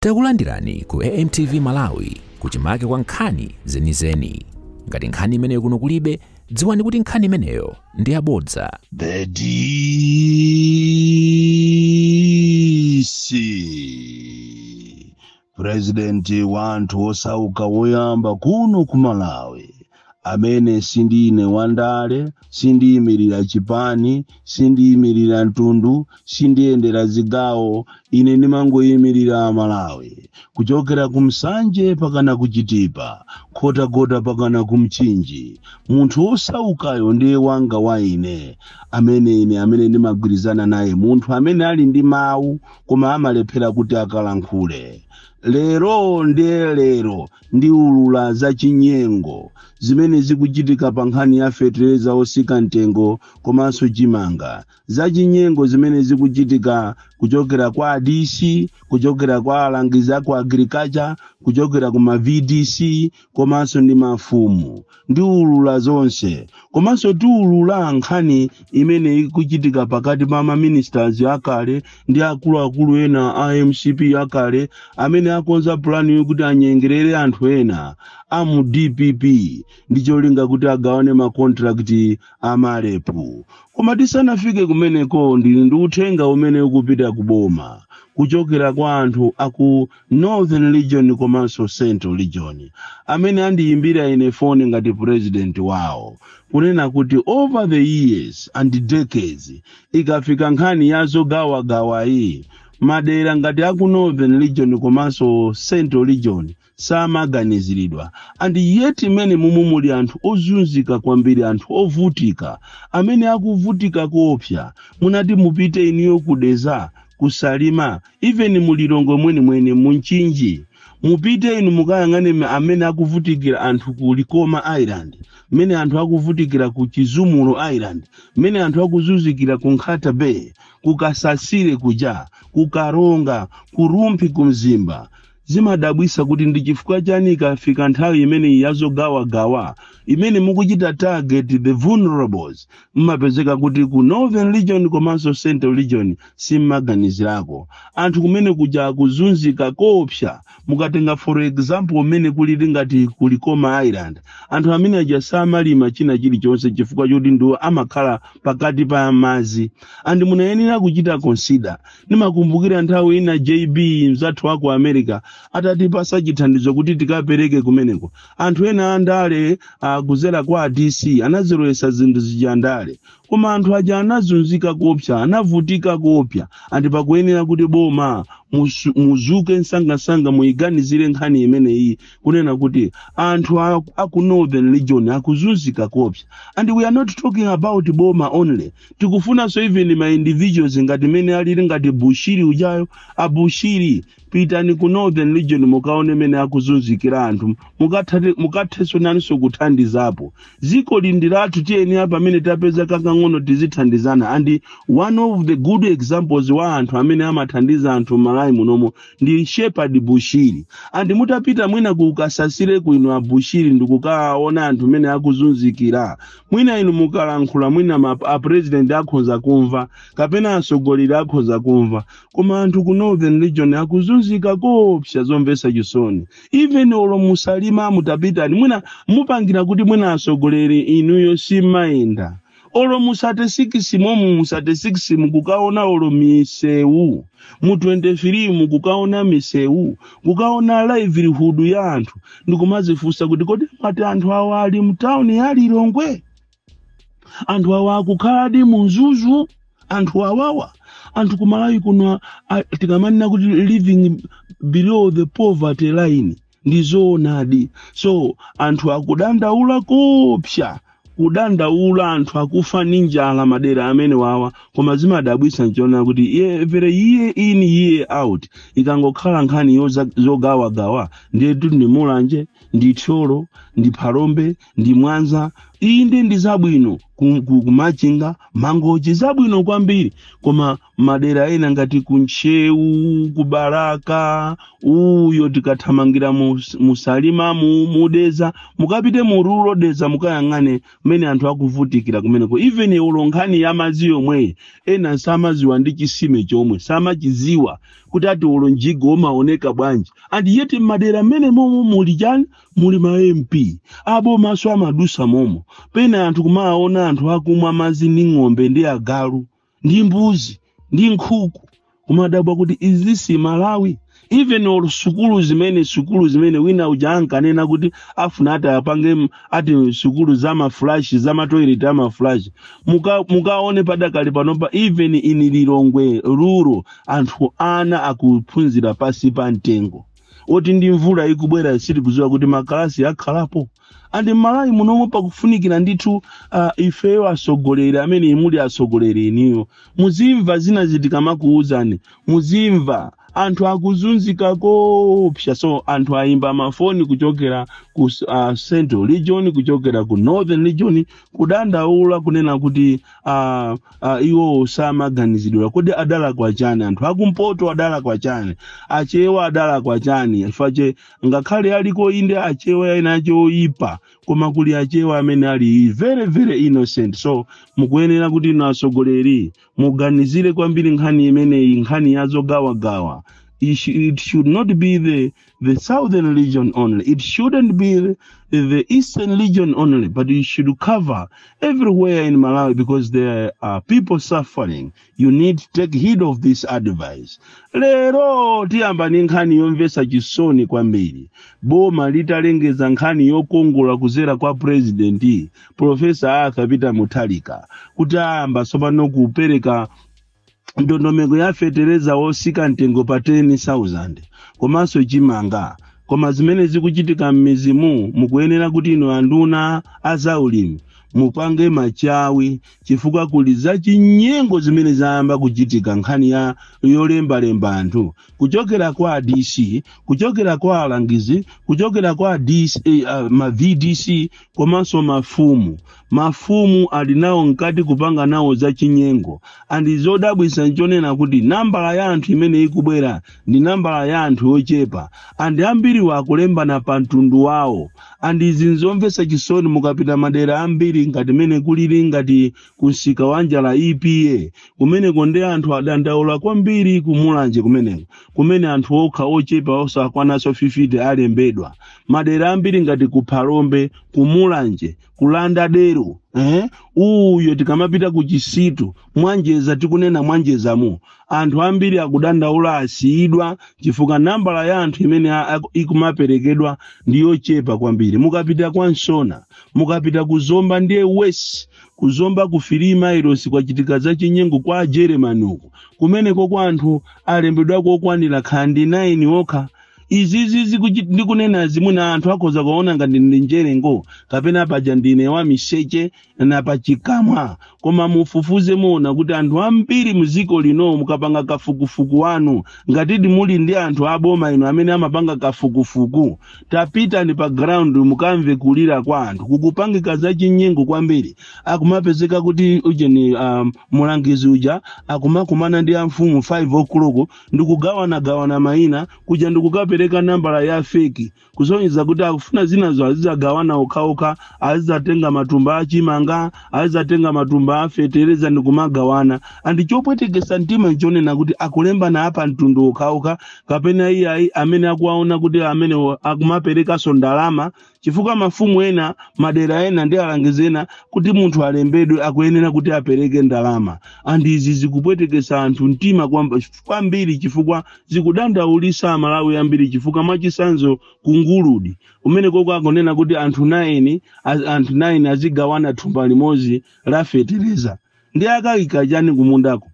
Takulandirani ku AMTV Malawi kuchimake kwa nkhani zenizeni. Ngati nkhani imeneyo kuno kulibe, dziwani kuti nkhani imeneyo ndi yabodza. The DC President wa anthu osauka woyamba kuno ku Malawi amene sindine wandale sindiyimirira chipani sindiyimirira mtundu sindiyendera zigawo ine ndimangoyimirira amalawi kuchokera ku Nsanje pakana ku Chitipa Nkhotakota pakana ku mchinji munthu wosaukayo ndi wanga wa ine amene ine amene ndimagwirizana naye munthu amene ali ndi mawu koma amalephera kuti akalankhule lero ndiye lero ndiulula za chinyengo zimene zikuchitika pa nkhani ya fetereza otsika mtengo komanso chimanga za chinyengo zimene zikuchitika kuchokera kwa adc kuchokera kwa alangizi aku agriculture kuchokera ku ma vdc komanso ndi mafumu Ndiulula zonse. Komanso tiulula nkhani imene ikuchitika pakati pa ma ministers akale ndi akuluakulu ena a mcp akale amene akonza pulani yokuti anyengerere anthu ena a mu dpp ndi cholinga kuti agawane ma contract a malepu. Koma tisanafike kumeneko ndili ndi uthenga umene ukupita ku boma kuchokera kwa anthu aku Northern region komanso central region amene andiyimbira ine foni ngati president wawo kunena kuti over the years and decades ikafika nkhani ya zogawagawa iyi madera ngati aku northern region komanso central region samaganiziridwa and yet mmenemo ndi momwe muli anthu ozunzika kwambiri anthu ovutika amene akuvutika koopsa munati mupite inuyo ku Dedza ku Salima Even mu Lilongwe mwenimwene mu Mchinji mupite inu mukayang'ane mmene akuvutikira anthu ku Likoma Island, mmene anthu akuvutikira ku Chizumulu Island, mmene anthu akuzunzikira ku Nkhata Bay, ku Kasasire kuja, ku Karonga, ku Rumphi, ku Mzimba. Zimadabwisa kuti ndi chifukwa chani ikafika nthawi imeneyi ya zogawagawa imene mukuchita target the vulnerables mmapezeka kuti ku Northern Region komanso Central Region simmaganizirako. Anthu kumene kuja akuzunzika koopsa mukatenga for example mmene kulili ngati ku Likoma Island anthu amene aja samalima china chilichonse chifukwa choti ndiwo amakhala pakati pa madzi and munayenera kuchita consider ndimakumbukira nthawi ina jb mzathu wa ku america atatipasa chithandizo kuti tikapereke kumeneko anthu ena andale akudzera kwa a DC anazilowetsa zinthu zija ndale koma anthu aja anazunzika koopsa anavutika koopsa and pakuyenera kuti boma musu- muzuke msangamsanga muyiganizire nkhani imeneyi kunena kuti anthu a- aku northern region akuzunzika koopsa and we are not talking about boma only tikufunanso even ma individuals ngati mmene alili ngati bushiri ujayo a bushiri pitani ku northern region mukaone mmene akuzunzikira anthu mukathate- mukathenso naninso kuthandizapo dziko ili ndi lathu tiyeni apa pamene tapeza kakang'ono tizithandizana and one of the good examples wa anthu amene amathandiza anthu mmalawi munomo ndi shepherd bushiri and mutapita mwina ku lower shire uko a bushiri ndikukaona anthu mmene akuzunzikira mwina inu mukalankhula mwina m- a president akhoza kumva kapena atsogoleri akhoza kumva koma anthu ku northern region akuzunzika koopsa zomvetsa chisoni even olo mu salima mutapita mwina mupangira kuti mwina atsogoleri inuyo simumayenda olo mu sate sikisi momu mu sate sikisi mu kukaona olo misewu mu 23 mu kukaona misewu kukaona livelihood ya anthu ndikumazifunsa kuti kodi amati anthu awa ali mtawuni ya lilongwe anthu awa akukhaladi mu mzuzu anthu awawa anthu kumalawi kuno a- tikamanena kuti living below the poverty line ndi zoonadi so anthu akudandaula koopsa kudandaula anthu akufa ndi njala madera amenewawa koma zimadabwitsa nchonena kuti every year in year out ikangokhala nkhani yoza- zogawagawa ndetu ndi mulanje ndi thyolo ndi phalombe ndi mwanza inde ndi zabwino ku- ku- ku machinga mangochi zabwino kwambiri koma madera ena ngati ku ntcheu ku balaka uyo tikathamangira mu- mu salima mu- mu dedza mukapite mu rural dedza mukayang'ane mmene anthu akuvutikira kumeneko even olo nkhani ya madzi yomweyi ena samadziwa ndi chisime chomwe samachidziwa kuti ati olo mjigo umaoneka bwanji and yet m'madera menemomo muli chani muli ma mp abomanso amadutsa momo pena anthu kumaona anthu akumwa madzi ndi ng'ombe ndi agalu ndi mbuzi ndi nkhuku kumadabwa kuti is this malawi even olo sukulu zimene sukulu zimene wina uja ankanena kuti afuna ati apange m- ati sukulu za maflash za matoilet a maflash muka mukaone padakali panopa even in lilongwe rural anthu ana akuphunzira pansi pa mtengo oti ndi mvula ikubwera sitikudziwa kuti makalasi akhalapo and m'malawi munomo pakufunikira ndithu uh, ifeyo atsogoleri amene muli atsogoleri inuyo muzimva zina tikamakuwuzani muzimva anthu akuzunzika koopsa so anthu ayimba mafoni kuchokera ku uh, central region kuchokera ku northern region kudandaula kunena kuti ah, ah, iwowo samaganizidwa kodi adalakwa chani anthu akumpoto adalakwa chani achewa adalakwa chani chifukwa che ngakhale aliko inde achewa ena ache oyipa koma kuli achewa amene ali very very innocent so mukuyenera kuti inu atsogoleri muganizire kwambiri nkhani imeneyi nkhani yazogawagawa It sh- it should not be the the southern region only. It shouldn't be the, the eastern region only, but it should cover everywhere in Malawi because there are people suffering. You need to take heed of this advice. Lero tiyamba ndi nkhani yomvetsa chisoni kwambiri. Boma litalengeza nkhani yokongola kuzera kwa president Professor Arthur Peter Mutharika kuti ayamba tsopano kupereka ndondomeko ya fetereza wotsika mtengo pa 10,000 komanso chimanga koma zimene zikuchitika m'midzimu mukuyenera kuti inu anduna azaulimi mupange machawi chifukwa kuli zachinyengo zimene zayamba kuchitika nkhani ya yolembalemba anthu kuchokera kwa DC kuchokera kwa alangizi kuchokera kwa DC, eh, ah, ma vdc komanso mafumu mafumu ali nawo mkati kupanga nawo zachinyengo and chodabwitsa nchonena kuti nambala ya anthu imene ikubwera ndi nambala ya anthu yochepa and ambiriwo akulembana pa mtundu wawo and izi nzomvetsa chisoni mukapita madera ambiri ngati mene kulili ngati kumsika wa njala EPA kumenekonde anthu adandaula kwambiri kumulanje kumeneko kumene anthu okha ochepa osakwananso 50 alembedwa madera ambiri ngati ku phalombe ku mulanje kuli dera eh? uyo tikamapita ku chisitu mwanjeza tikunena mwanjezamo anthu ambiri akudandaula asiyidwa chifukwa nambala ya anthu imene a- a- ikumaperekedwa ndi yochepa kwambiri mukapita kwa nsona mukapita ku zomba ndiye worse ku zomba ku filima ilosi kwachitika za chinyengo kwa ajeremani uku kumeneko kwa anthu alembedwa kokwanira khandi 9 okha izizi zikuchi- ndikunena zimwe na anthu akhoza kuona ngati ndi njerengo kapena paja ndine wa miseche na pachikamwa koma mufufuze muona kuti anthu ambiri mdziko lino mukapanga kafukufuku wanu ngatidi muli ndi anthu aboma inu amene amapanga kafukufuku tapitani pa ground mukamve kulira kwa anthu kukupangika za chinyengo kwambiri akumapezeka kuti ujeni um, mulangizi uja akumakumana ndi amfumu 5 o'clock ndikugawanagawana mayina kuja ndikukapereka nambala ya feki kusonyeza kuti akufuna zinazo azizagawana okhaokha azizatenga matumba a chimanga azizatenga matumba a fetereza ndi kumagawana and chopwetekesa mtima nchonena kuti akulembana a pamtundu okhaokha kapena iyayi amene akuwaona kuti amene akumaperekanso ndalama chifukwa mafumu ena madera ena ndi alangizi ena kuti munthu alembedwe akuyenera kuti apereke ndalama and izi zikupwetekesa anthu mtima kwambiri chifukwa zikudandaulisa amalawi ambiri chifukwa mwachisanzo ku Nguludi kumeneko ko akunena kuti anthu 9 anthu 9 azigawana thumba limodzi la fetereza nde akayika chani kumundako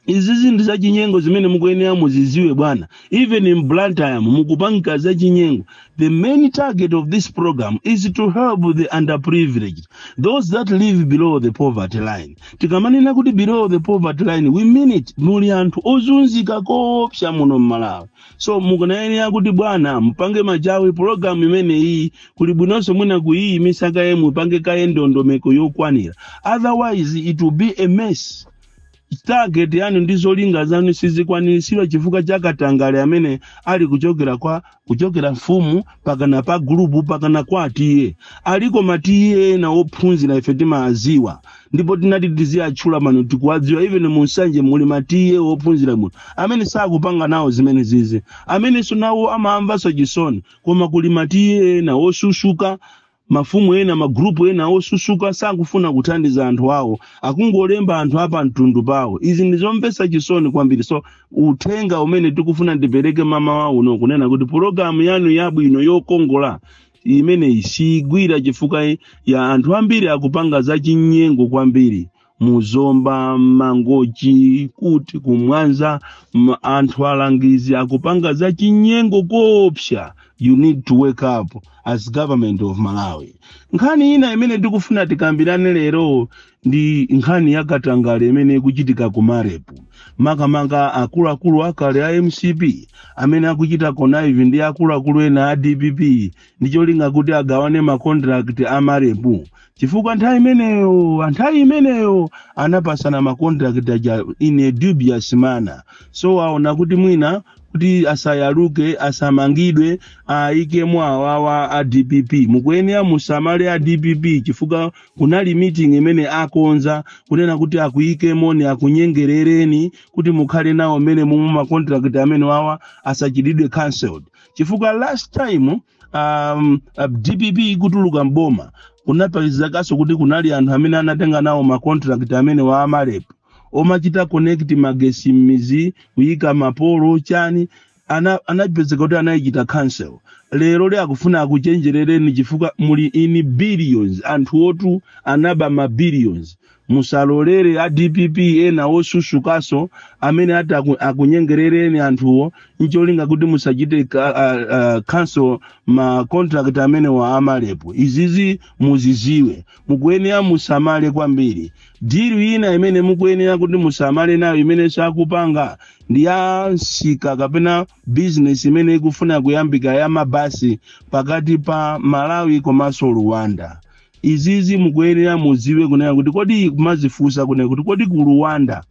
izi zinthu zachinyengo zimene mukuyenera muziziwe bwana even in blantyre mukupanga zachinyengo the main target of this program is to help the underprivileged those that live below the poverty line tikamanena kuti below the poverty line we mean it muli anthu ozunzika koopsa muno mmalawi so mukuyenera kuti bwana mupange machawi pologalamu imene iyi kuli bwinonso mwina kuyiyimisa kaye mupange kaye ndondomeko yokwanira otherwise it will be a mess target yanu ndi zolinga zanu sizikwaniritsidwa chifukwa cha katangale amene ali kuchokera mfumu pakana pa gulupu pakana kwa a TA aliko ma TA ena ophunzira ife timaziwa ndipo tinati tiziwatchula pano tikuwadziwa even mu nsanje muli ma TA ophunzira bwino amene sakupanga nawo zimene zizi amenenso nawo amamvanso chisoni koma kuli ma TA ena osusuka mafumu ena magrupu ena osusuka sakufuna kuthandiza anthu awo akungolemba anthu a pamtundu pawo izi ndi zomvetsa chisoni kwambiri so uthenga umene tikufuna ndipereke mmamawa uno kunena kuti pologalamu yanu yabwino yokongola imeneyi siyigwira chifukwa ya anthu ambiri akupanga zachinyengo kwambiri mu Zomba mMangochi kuti ku Mwanza anthu alangizi akupanga zachinyengo koopsa you need to wake up as government of malawi nkhani ina imene tikufuna tikambirane lero ndi nkhani ya katangale imene ikuchitika ku marep makamaka akuluakulu akale a mcp amene akuchita connive ndi akuluakulu ena a dpp ndi cholinga kuti agawane makontrakt a marep chifukwa nthawi imeneyo nthawi imeneyo anapasana makontrakt aja in a dubious manner so aona kuti mwina kuti asayaluke asamangidwe ayikemo awawa a dpp mukuyenera musamale a dpp chifukwa Kunali meeting imene akonza kunena kuti akuikemoni akunyengerereni kuti mukhale nawo mmene momwe ma contract amenewawa asachitidwe cancelled chifukwa last time um, uh, dpp ikutuluka mboma kunapezekaso kuti kunali anthu amene anatenga nawo ma contract amenewa a marep omachita connect magesi mmizi kuyika mapolo chani ana anapezeka kuti anaichita cancel leroli akufuna akuchenjerereni chifukwa muli in billions anthuwotu anaba ma billions musalolere a dpp ena osusukaso amene ati aku- akunyengerereni anthuwo ncholinga kuti musachite ka- ah, ah, cancel ma contract amenewa a marep izizi muziziwe mukuyenera musamale kwambiri dilu ina imene mukuyenera kuti musamale nayo imene sakupanga ndi ya msika kapena bizinesi imene ikufuna kuyambika ya mabasi pakati pa malawi komanso rwanda izizi mukuyenera mudziwe kunena kuti kodi kumazifunsa kunena kuti kodi ku rwanda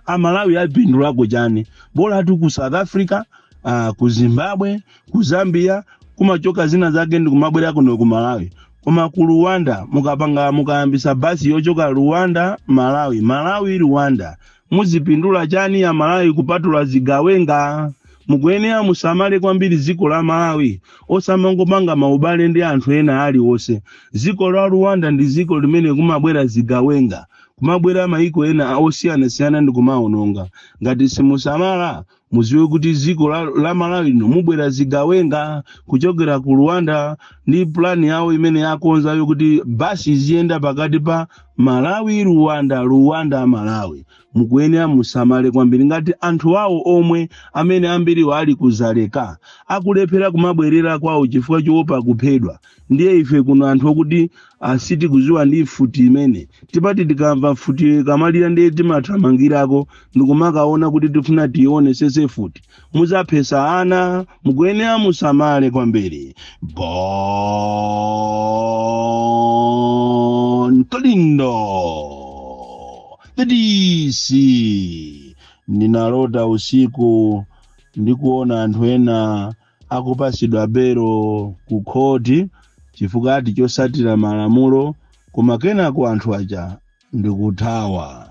amalawi apindulako chani bolatu ku south africa uh, ku zimbabwe ku zambia kumachoka zina zake ndi kumabwera kuno ku malawi koma ku rwanda mukapanga mukayambisa basi yochoka rwanda malawi malawi rwanda muzipindula chani amalawi kupatula zigawenga mukuyenera musamale kwambiri dziko la malawi osamangopanga maubale ndi anthu ena aliwonse dziko la rwanda ndi dziko limene kumabwera zigawenga kumabwera maiko ena a- osiyanasiyana ndi kumaononga ngati simusamala muziwe kuti dziko la, la malawi lino mubwera zigawenga kuchokera ku rwanda ndi plani yawo imene akonzayo kuti basi iziyenda pakati pa malawi rwanda rwanda malawi mukuyenera musamale kwambiri ngati anthu awo omwe amene ambiriwo ali ku dzaleka akulephera kumabwerera kwawo chifukwa choopa kuphedwa ndiye ife kuno anthu okuti sitikuziwa ndi mfuti imene timati tikamva mfuti ikamalira ndiye timathamangirako ndikumakaona kuti tifuna tionesese mfuti muzaphesa ana mukuyenera musamale kwambiri bon kalindo the dc ndinalota usiku ndikuona anthu ena akupasidwa belo ku khoti chifukwa ati chosatira malamulo koma kenako anthu aja ndikuthawa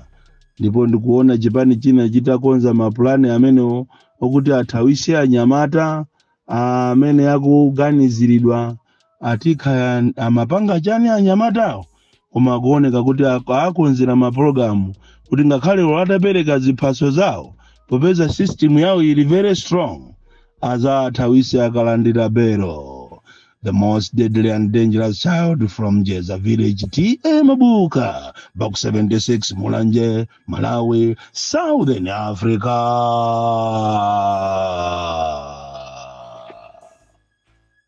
ndipo ndikuona chipani china chitakonza mapulani amenewo okuti athawise anyamata amene akuganiziridwa ati kaya amapanga chani anyamatawo koma akuoneka kuti ak- akonzera mapulogalamu kuti ngakhale olo atapereka ziphaso zawo popeza system yawo ili very strong azathawise akalandira belo the most deadly and dangerous child from jeza village ta mabuka baku 76 mulanje malawi southern africa